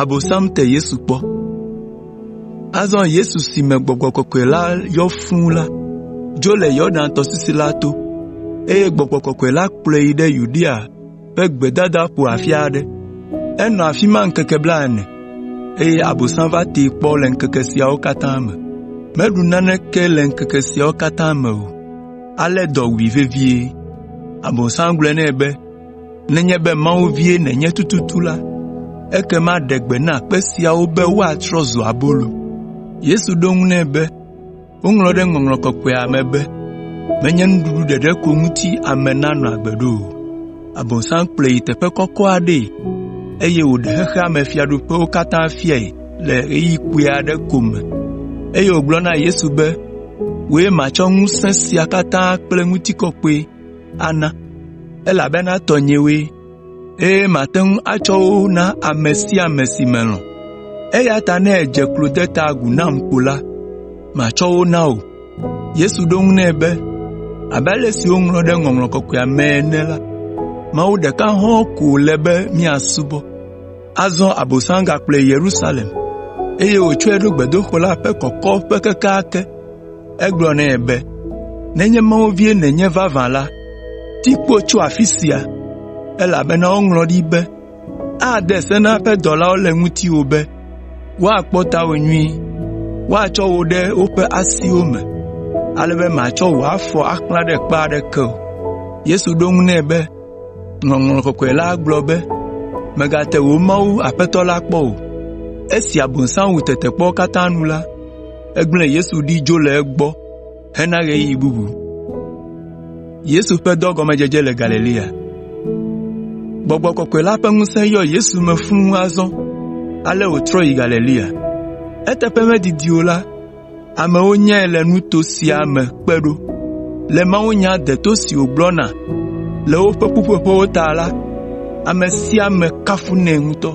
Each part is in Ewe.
Abosam te Yesu kpɔ. Azɔ Yesu si me Gbɔgbɔ Kɔkɔe la yɔ fũu la dzo le Yordan tɔsisi la to, eye Gbɔgbɔ Kɔkɔe la kplɔe yi ɖe Yudea ƒe gbedada ƒo afi aɖe. Enɔ afi ma ŋkeke blaene, eye Abosam va tee kpɔ le ŋkeke siawo katã me. Meɖu naneke le ŋkeke siawo katã me o, ale dɔ wui vevie. Abosam gblɔ nɛ be, “Nenye be Mawu vie nènye tututu la, ekema ɖe gbe na kpe siawo be woatrɔ zu abolo.” Yesu ɖo eŋu nɛ be, Woŋlɔ ɖe Ŋɔŋlɔ Kɔkɔea me be, ‘Menye nuɖuɖu ɖeɖe ko ŋuti ame nanɔ agbe ɖo o.’ Abosam kplɔe yi teƒe kɔkɔ aɖee, eye wòɖe xexea me fiaɖuƒewo katã fiae le ɣeyiɣi kpui aɖe ko me, eye wògblɔ na Yesu be, ‘Wòe matsɔ ŋusẽ sia katã kple ŋutikɔkɔe ana, elabena tɔnyewoe.’ eye mate ŋu atsɔ wo na ame sia ame si melɔ̃. Eya ta ne èdze klo de ta agu nam ko la, matsɔ wo na wò.” Yesu ɖo eŋu nɛ be, “Abe ale si woŋlɔ ɖe Ŋɔŋlɔ Kɔkɔea me ene la, Mawu ɖeka hɔ̃ɔ ko wòle be míasubɔ.” Azɔ Abosam gakplɔe yi Yerusalem, eye wòtsɔe ɖo gbedoxɔ la ƒe kɔkɔƒe kekeake. Egblɔ nɛ be, “Nenye Mawu vie nènye vavã la, ti kpo tso afi sia, elabena woŋlɔ ɖi be, “ ‘Ade se na eƒe dɔlawo le ŋutiwò be, woakpɔ tawò nyuie, woatsɔ wò ɖe woƒe asiwo me, ale be màtsɔ wò afɔ axlã ɖe kpe aɖeke o.’ ” Yesu ɖo eŋu nɛ be, “Ŋɔŋlɔ Kɔkɔe la gblɔ be, ‘Mègate wò Mawu Aƒetɔ la kpɔ o.’ ” Esi Abosam wu tetekpɔwo katã nu la, egblẽ Yesu ɖi dzo le egbɔ hena ɣeyiɣi bubu. Gbɔgbɔ kɔkɔe la ƒe ŋusẽ yɔ Yesu me fũu azɔ ale wòtrɔ yi Galilea. Eteƒe medidi o la, amewo nyae le nuto sia me kpe ɖo. Le mawunya deto si wògblɔna le woƒe ƒuƒoƒewo ta la, ame sia ame kafunɛ ŋutɔ.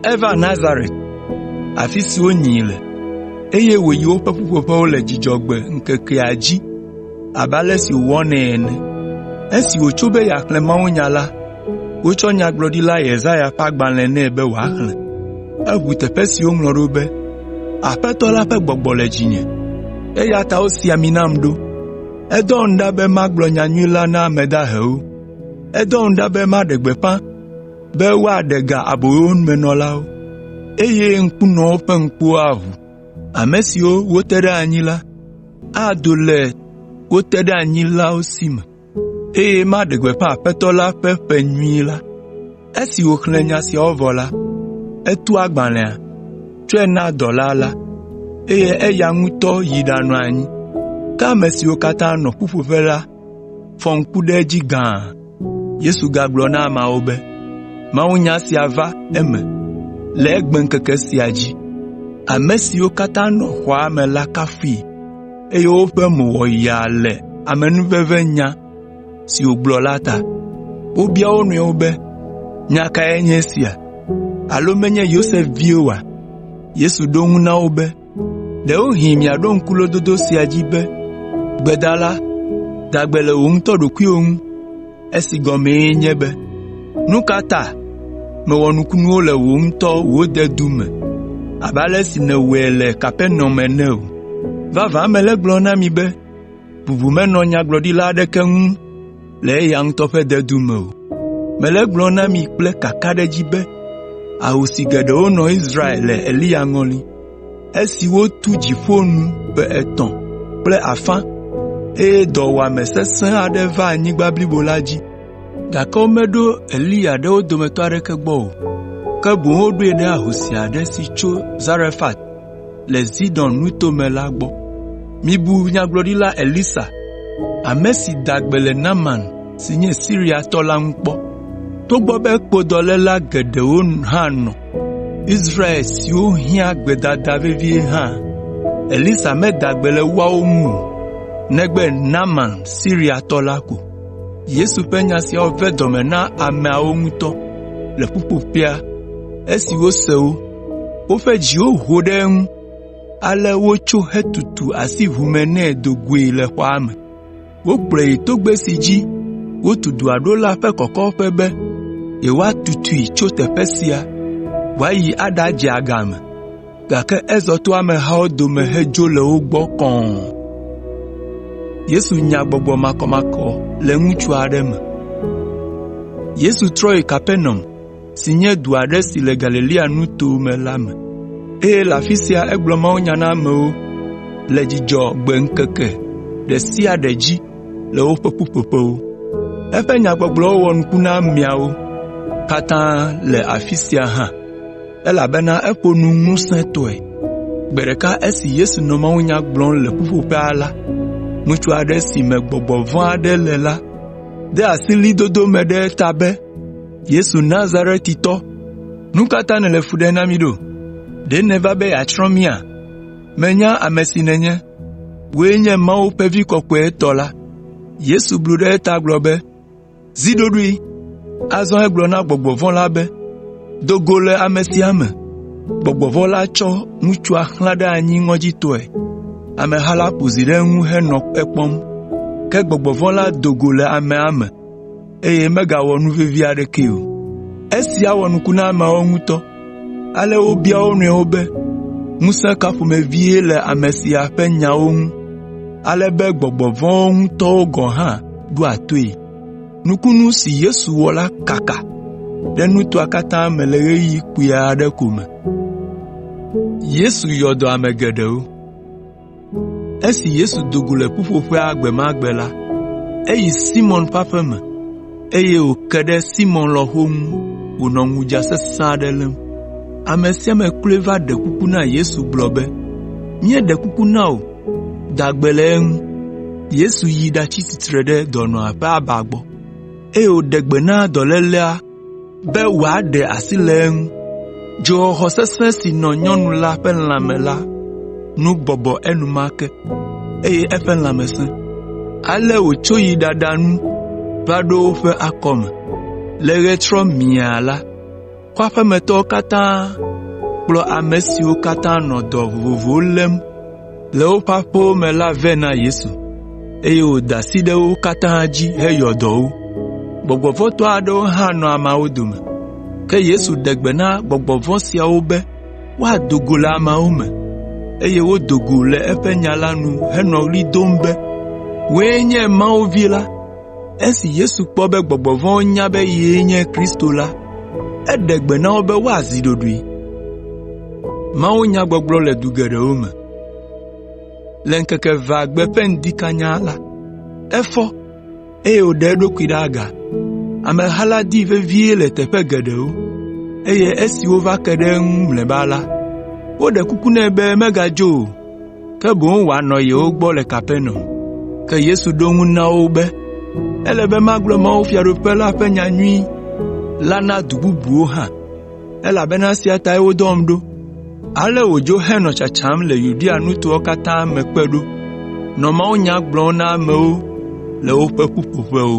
Eva Nazaret, afi si wonyii le, eye wòyi woƒe ƒuƒoƒewo le Dzudzɔgbe ŋkekea dzi abe ale si wòwɔnɛ ene. Esi wòtso be yeaxlẽ mawunya la, wotsɔ nyagblɔɖila Yesaya ƒe agbalẽ nɛ be wòaxlẽ. Eʋu teƒe si woŋlɔ ɖo be, “Aƒetɔ la ƒe gbɔgbɔ le dzinye, eya ta wosi ami nam ɖo, edɔm ɖa be magblɔ nyanyui la na ame dahewo, Edɔm ɖa be maɖe gbeƒã be woaɖe ga aboyomenɔlawo, eye ŋkunɔwo ƒe ŋkuwo aʋu. Ame siwo wote ɖe anyi la, ado le wo teɖeanyilawo si me, eye maɖe gbeƒã Aƒetɔ la ƒe ƒe nyui la.” Esi wòxlẽ nya siawo vɔ la, etu agbalẽa, tsɔe na dɔla la, eye eya ŋutɔ yi ɖanɔ anyi. fɔ ŋku ɖe edzi gãa. Yesu gagblɔ na ameawo be, “Mawunya sia va eme le egbeŋkeke sia dzi.” Ame siwo katã nɔ xɔa me la kafui, eye woƒe mo wɔ yaa le amenuvevenyagblɔnya si wògblɔ la ta. Wobia wo nɔewo be, “Nya kae nye esia? Alo menye Yosef vie oa?” Yesu ɖo eŋu na wo be, “Ɖewohĩ miaɖo ŋku lododo sia dzi be, ‘Gbedala, da gbe le wò ŋutɔ ɖokuiwò ŋu,’ esi gɔmee nye be, ‘Nu ka ta mèwɔ nukunuwo le wò ŋutɔ wò dedu me abe ale si nèwɔe le Kapernaum ene o?’ Vavã mele egblɔm na mi be, bubu menɔ nyagblɔɖila aɖeke ŋu. le eya ŋutɔ ƒe dedu me o. Mele egblɔm na mi kple kakaɖedzi be ahosi geɖewo nɔ Israel le Eliya ŋɔli, esi wotu dziƒo nu ƒe etɔ̃ kple afã, eye dɔwuame sesẽ aɖe va anyigba blibo la dzi. Gake womeɖo Eliya ɖe wo dometɔ aɖeke gbɔ o, ke boŋ woɖoe ɖe ahosi aɖe si tso Zarefat le Zidon Nuto me la gbɔ. Mibu nyagblɔɖila Elisa, ame si da gbe le Naaman si nye Siriatɔ la ŋu kpɔ. Togbɔ be kpodɔléla geɖewo hã nɔ Israel siwo hiã gbedada vevie hã la, Elisa meda gbe le woawo ŋu o, negbe Naaman Siriatɔ la ko.” Yesu ƒe nya siawo ve dɔme na ameawo ŋutɔ le ƒuƒoƒea esi wose wo. Woƒe dziwo ho ɖe eŋu, ale wotso hetutu asi ʋu me nɛ do goe le xɔa me. Wokplɔe yi togbɛ si dzi wotu dɔa ɖo la ƒe kɔkɔƒe be yewoatutui tso teƒe sia wòayi aɖadze agame, gake ezɔ to amehawo dome hedzo le wo gbɔ kɔ̃ɔ. si nye du aɖe si le Galilea nuto me la me, eye le afi sia egblɔ mawunya na amewo le Dzudzɔgbe ŋkeke ɖe sia ɖe dzi le woƒe ƒuƒoƒewo. Eƒe nyagbɔgblɔwo wɔ nuku na ameawo katã le afi sia hã, elabena eƒo nu ŋusẽtɔe. Gbe ɖeka esi Yesu nɔ mawunya gblɔm le ƒuƒoƒea la, ŋutsu aɖe si me gbɔgbɔ vɔ̃ aɖe le la de asi ɣlidodo me ɖe eta be, “Yesu Nazaretitɔ, nu ka ta nèle fu ɖem na mí ɖo? Ɖe nèva be yeatsrɔ̃ mía? Menya ame si nènye, wòe nye Mawu ƒe Vi Kɔkɔetɔ la.” Yesu blu ɖe eta gblɔ be, “Zi ɖoɖoe!” Azɔ egblɔ na gbɔgbɔ vɔ̃ la be, “Do go le ame sia me!” Gbɔgbɔ vɔ̃ la tsɔ ŋutsua xlã ɖe anyi ŋɔdzitɔe. Ameha la ƒo zi ɖe eŋu henɔ ekpɔm, ke gbɔgbɔ vɔ̃ la do go le amea me. eye megawɔ nu vevi aɖekee o. Esia wɔ nuku na ameawo ŋutɔ ale wobia wo nɔewo be, “Ŋusẽ ka ƒomevie le ame sia ƒe nyawo ŋu ale be gbɔgbɔ vɔ̃wo ŋutɔ gɔ̃ hã ɖoa toe?” Nukunu si Yesu wɔ la kaka ɖe nutoa katã me le ɣeyiɣi kpui aɖe ko me. Esi Yesu do go le ƒuƒoƒea gbe ma gbe la, eyi Simɔn ƒe aƒe me, eye wòke ɖe Simɔn lɔ̃xo ŋu wònɔ ŋudza sesẽ aɖe lém. Ame sia ame kloe va ɖe kuku na Yesu gblɔ be, “Míeɖe kuku na wò, da gbe le eŋu.” Yesu yi ɖatsi tsitre ɖe dɔnɔa ƒe aba gbɔ, eye wòɖe gbe na dɔlélea be wòaɖe asi le eŋu. Dzoxɔxɔ sesẽ si nɔ nyɔnu la ƒe lãme la nu bɔbɔ enumake, eye eƒe lãme sẽ. Ale wòtso yi ɖaɖa nu va ɖo woƒe akɔme. Le ɣetrɔ miaa la, kɔa ƒe me tɔwo katã kplɔ ame siwo katã nɔ dɔ vovovowo lém le woƒe aƒewo me la vɛ na Yesu, eye wòda asi ɖe wo katã dzi heyɔ dɔ wo. Gbɔgbɔ vɔ̃ tɔ aɖewo hã nɔ ameawo dome. Ke Yesu ɖe gbe na gbɔgbɔ vɔ̃ siawo be woado go le ameawo me, eye wodo go le eƒe nya la nu henɔ ɣli dom be, “Wòe nye Mawu Vi la!” Esi Yesu kpɔ be gbɔgbɔ vɔ̃wo nya be yee nye Kristo la, eɖe gbe na wo be woazi ɖoɖoe. Le ŋkeke evea gbe ƒe ŋdi kanya la, efɔ, eye wòɖe eɖokui ɖe aga. Ameha la dii vevie le teƒe geɖewo, eye esi wova ke ɖe eŋu mlɔeba la, woɖe kuku nɛ be megadzo o. ke boŋ wòanɔ yewo gbɔ le Kapernaum. Ke Yesu ɖo eŋu na wo be, “Ele be magblɔ mawufiaɖuƒe la ƒe nyanyui la na du bubuwo hã, elabena esia tae wodɔm ɖo.” Ale wòdzo henɔ tsatsam le Yudea nutowo katã me kpe ɖo, nɔ mawunya gblɔm na amewo le woƒe ƒuƒoƒewo.